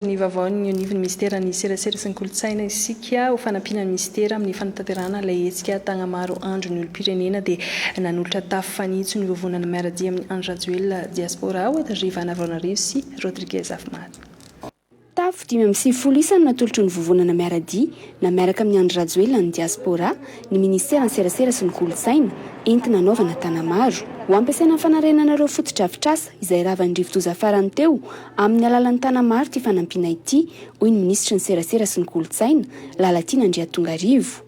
ny vaovaon'ny eo anivon'ny minisiteran'ny Serasera sy ny kolontsaina isika ho fanampiana ny minisitera amin'ny fanatanterahana ilay hetsika Tagnamaro Andron'ny olom-pirenena dia nanolotra tafo fanitso nivovonana miara-dia amin'i Andry Rajoelina Diaspora ao Andriva Anavaonarivo sy Rodriguez Afomary. Tafo dimy amby sivifolo isa no natolotry ny vovonana miara-dia na miaraka amin'i Andry Rajoelina ny Diaspora ny minisiteran'ny Serasera sy ny kolontsaina entina hanaovana Tagnamaro ho ampiasaina amin'ny fanarenana ireo fotodrafitrasa izay ravan'ny rivodoza farany teo Amin'ny alalan'ny Tanamaro ity fanampiana ity, hoy ny minisitry ny Serasera sy ny Kolontsaina, Lalatiana Andriatongarivo.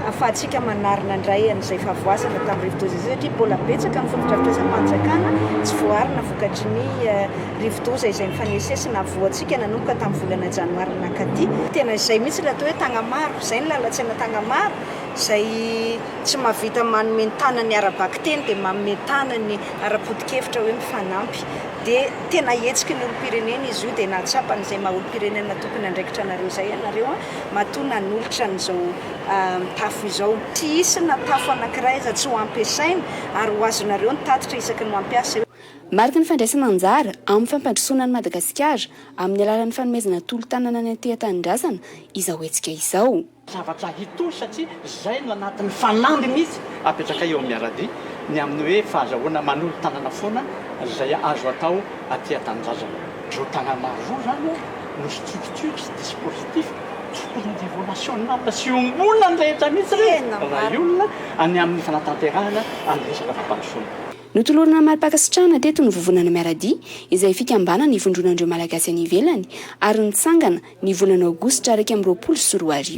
Ahafahantsika manarina indray an'izay fahavoazana tamin'ny rivodoza izay satria mbola betsaka ny fotodrafitrasam-panjakana tsy voaarina vokatry ny rivodoza izay nifanesisesy nahavoantsika nanomboka tamin'ny volana janoary nankaty. Tena izay mihitsy ilay atao hoe Tagnamaro, izay ny lalantsena Tagnamaro izay tsy mahavita manome ny tanany ara-bakiteny dia manome tanany ara-potokevitra hoe mifanampy. dia tena hetsiky ny olom-pirenena izy io dia nahatsapany izay maha olom-pirenena tokony handraikitra anareo izay ianareo an, matoa nanolotra an'izao tafo izao. Tsy hisy na tafo anankiray aza tsy ho ampiasaina ary ho azonareo ny tatitra isaky ny mampiasa eo. Mariky ny fandraisana anjara amin'ny fampandrosoana an'i Madagasikara amin'ny alalan'ny fanomezana tolo-tanana ny anteha-tanindrazana izao hetsika izao. Zavatra hitohy satria izay no anatin'ny fanamby mihitsy apetrakay eo amin'ny Aradia ny amin'ny hoe fahazahoana manolo-tanana foana izay azo atao aty an-tanindrazana. Ireo tanàna roa izany no structure sy dispositif tokony ho niveau national sy iombonana ny rehetra mihitsy ireny raha hiolona any amin'ny fanatanterahana an'ny resaka fampandrosoana. Notolorana mari-pankasitrahana teto ny Vovonana Miaradia izay fikambanana ivondronan'ireo Malagasy any ivelany ary nitsangana ny volana Aogositra iraika amby roapolo sy roa arivo.